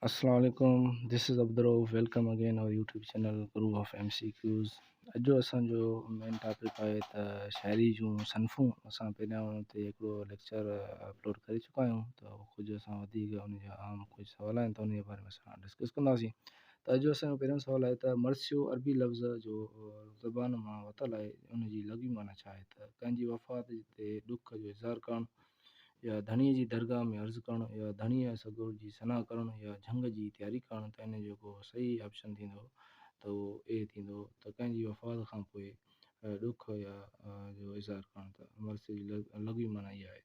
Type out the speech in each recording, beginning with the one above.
اسلام عليڪم this is Abdul Rauf welcome again our YouTube channel grove of M C Qs اڄ جو اسانجو مين ٽاپڪ آهي ته شاعري جون صنفون اسان پهريان ان تي هڪڙو ليڪچر اپلوڊ ڪري چڪا آهيون ته ڪجهه اسان وڌيڪ ان جا عام ڪجهه سوال آهن ته ان جي باري ۾ اسان ڊسڪس ڪنداسين ته اڄ جو اسانجو پهريون سوال آهي ته مرثيو عربي لفظ جو زبان مان وتل آهي ان جي لغوي معنيٰ ڇا آهي ته ڪنهن جي وفات تي ڏک جو اظهار ڪرڻ يا ڌڻيء جي درگاهه ۾ عرض ڪرڻ يا ڌڻيء يا سڳور جي ثنا ڪرڻ يا جهنگ جي تياري ڪرڻ ته ان جو ڪو صحيح آپشن ٿيندو ته اهو اهي ٿيندو ته ڪنهن جي وفات کان پوء ڏک يا جو اظهار ڪرڻ ته مرثيي جي لغوي معنيٰ اها آهي.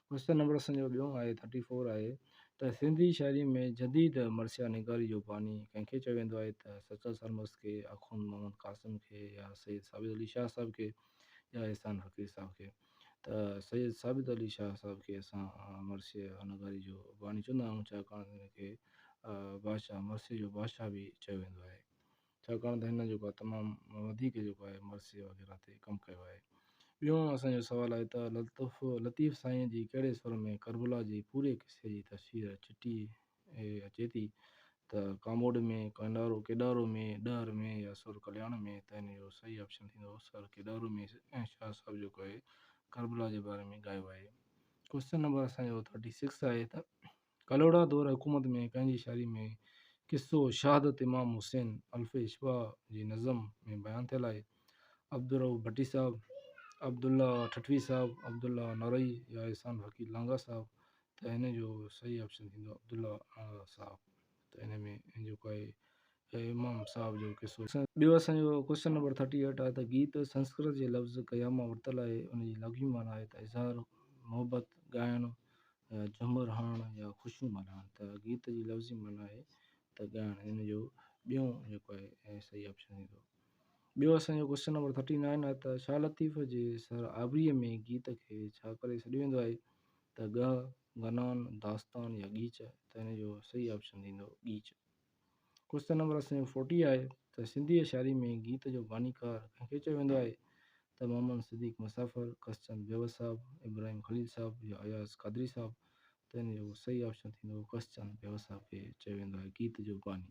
ڪوشچن نمبر اسان جو ٻيون آهي ٿرٽي فور آهي ته سنڌي شاعري ۾ جديد مرثيا نگاري جو باني ڪنهن کي چيو ويندو آهي ته سچل سرمست کي، آخوند محمد قاسم کي يا سيد ثابت علي شاهه صاحب کي يا احسان فقير صاحب کي. ته سيد ثابت علي شاهه صاحب کي اسان مرثيه نگاري جو باني چوندا آهيون، ڇاڪاڻ ته هن کي بادشاهه مرثيه جو بادشاهه به چيو ويندو آهي، ڇاڪاڻ ته هن جيڪو آهي تمام وڌيڪ جيڪو آهي مرثيه وغيره تي ڪم ڪيو آهي. ٻيو اسان جو سوال آهي ته لطيف سائينء جي ڪهڙي سر ۾ ڪربلا جي پوري قصي جي تفسير چٽي هي اچي ٿي ته ڪاموڏ ۾ ڪنڊارو ڪيڏارو ۾ ڏهر ۾ يا سر ڪلياڻ ۾ ته هن جو صحيح آپشن ٿيندو سر ڪيڏارو ۾ ۽ شاهه صاحب جيڪو آهي ڪربلا جي باري ۾ ڳايو آهي ڪوشچن نمبر اسان جو ٿرٽي سڪس آهي ته ڪلهوڙا دور حڪومت ۾ ڪنهن جي شاعري ۾ قصو شهادت امام حسين الف اشبا جي نظم ۾ بيان ٿيل آهي عبدالرؤف ڀٽي صاحب عبدالله ٺٽوي صاحب عبدالله نارئي يا احسان فقير لانگا صاحب ته ان جو صحيح آپشن ٿيندو عبدالله اڻالا صاحب ته ان ۾ جيڪو آهي امام صاحب جو قصو. ٻيو اسان جو ڪوشچن نمبر ٿرٽي ايٽ آهي ته گيت سنسڪرت جي لفظ گيا مان ورتل آهي ان جي لغوي معنيٰ آهي ته اظهار محبت ڳائڻ يا جهمر هڻڻ يا خوشيون ملهائڻ ته گيت جي لفظي معنيٰ آهي ته ڳائڻ ان جو ٻيون جيڪو آهي صحيح آپشن ٿيندو ٻيو اسان جو ڪوشچن نمبر ٿرٽي نائن آهي ته شاهه لطيف جي سر آبريء ۾ گيت کي ڇا ڪري سڏيو ويندو آهي ته ڳهه، غنان، داستان يا ڳيچ آهي ته ان جو صحيح آپشن ٿيندو ڳيچ. ڪوشچن نمبر اسين جو فورٽي آهي ته سنڌي يا شاعري ۾ گيت جو بانيڪار ڪنهن کي چيو ويندو آهي ته محمد صديق مسافر، ڪسچند بيوس صاحب، ابراهيم خليل صاحب يا اياز قادري صاحب ته ان جو صحيح آپشن ٿيندو ڪسچند بيوس صاحب کي چيو ويندو آهي گيت جو باني.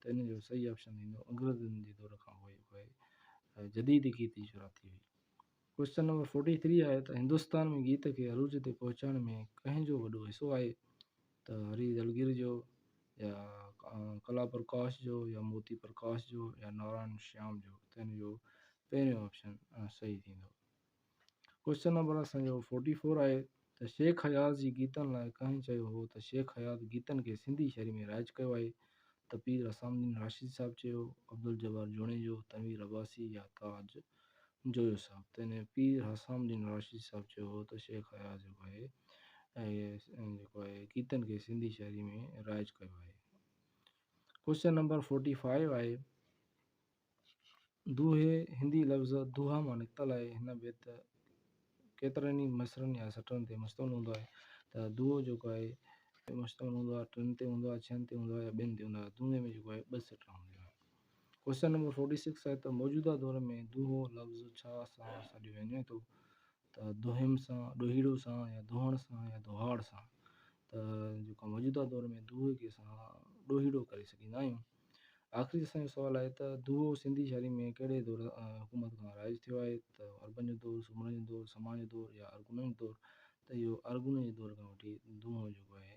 ته ان جو صحيح آپشن ايندو انگريزن جي دور کان پوء پوء جديد گيت جي شروعات ٿي هئي. ڪوئسچن نمبر فورٽي ٿري آهي ته هندستان ۾ گيت کي عروج تي پهچائڻ ۾ ڪنهن جو وڏو حصو آهي ته هري دلگير جو يا ڪلا پرڪاش جو يا موتي پرڪاش جو يا نارائڻ شيام جو ته ان جو پهريون آپشن صحيح ٿيندو ڪوشچن نمبر اسان جو فورٽي فور آهي ته شيخ اياز جي گيتن لاء ڪنهن چيو هو ته شيخ اياز گيتن کي سنڌي شاعري ۾ رائج ڪيو آهي ته پير حسام الدين راشدي صاحب چيو عبدالجبار جوڻيجو تنوير عباسي يا تاج جويو صاحب ته ان پير حسام الدين راشدي صاحب چيو هو ته شيخ اياز جيڪو آهي جيڪو آهي گيتن کي سنڌي شاعري ۾ رائج ڪيو آهي ڪوشچن نمبر فورٽي فائيو آهي دوهي، هندي لفظ دوها مان نڪتل آهي. هن بيت ڪيترن ئي مصرعن يا سٽرن تي مشتمل هوندو آهي ته دوهو جيڪو آهي مشتمل هوندو آهي ٽن تي هوندو آهي، ڇهن تي هوندو آهي يا ٻين تي هوندو آهي. دوهي ۾ جيڪو آهي ٻه سٽرا هوندا آهن. ڪوئسچن نمبر فورٽي سڪس آهي ته موجوده دور ۾ دوهو لفظ ڇا سان سڏيو وڃي ٿو ته دوهيم سان، ڏوهيڙو سان يا دوهڻ سان يا دوهاڙ سان ته جيڪو موجوده دور ۾ دوهي کي اسان ڏوهيڙو ڪري سڏيندا آهيون. آخري اسان جو سوال آهي ته دوهو سنڌي شاعري ۾ ڪهڙي دور حڪومت کان رائج ٿيو آهي ته عربن جو دور، سومرن جو دور، سماڻ جو دور يا ارغونن جو دور ته اهو ارغونن جي دور کان وٺي دوهو جيڪو آهي